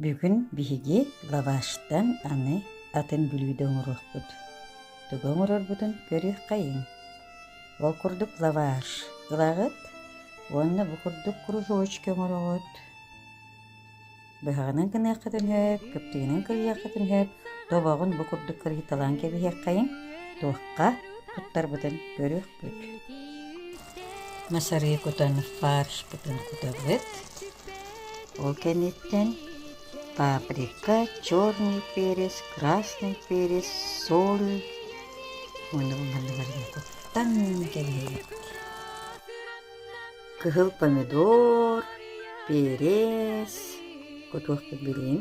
Бүгүн биһиги лаваштан аны атын бүлүүдэ оҥоруохпут. Тугу оҥорорбутун көрүөххэйиҥ. Ол курдук лаваш ылаҕыт уонна бу курдук кружочки оҥороҕут. Быһаҕынан гыныахха түнһээт, кыптыгынан кырыйыахха түнһээт, тобоҕун бу курдук кырыйталаан кэбиһиэххэйиҥ, туохха туттарбытын көрүөхпүт. Мас арыйы кутан фаршпытын кутабыт. Ол кэнниттэн паприка, черный перец, красный перец, соль муннук-манныгарын куттан кэбиһэбит. Кыһыл помидор, перец, кутуохпут билигин.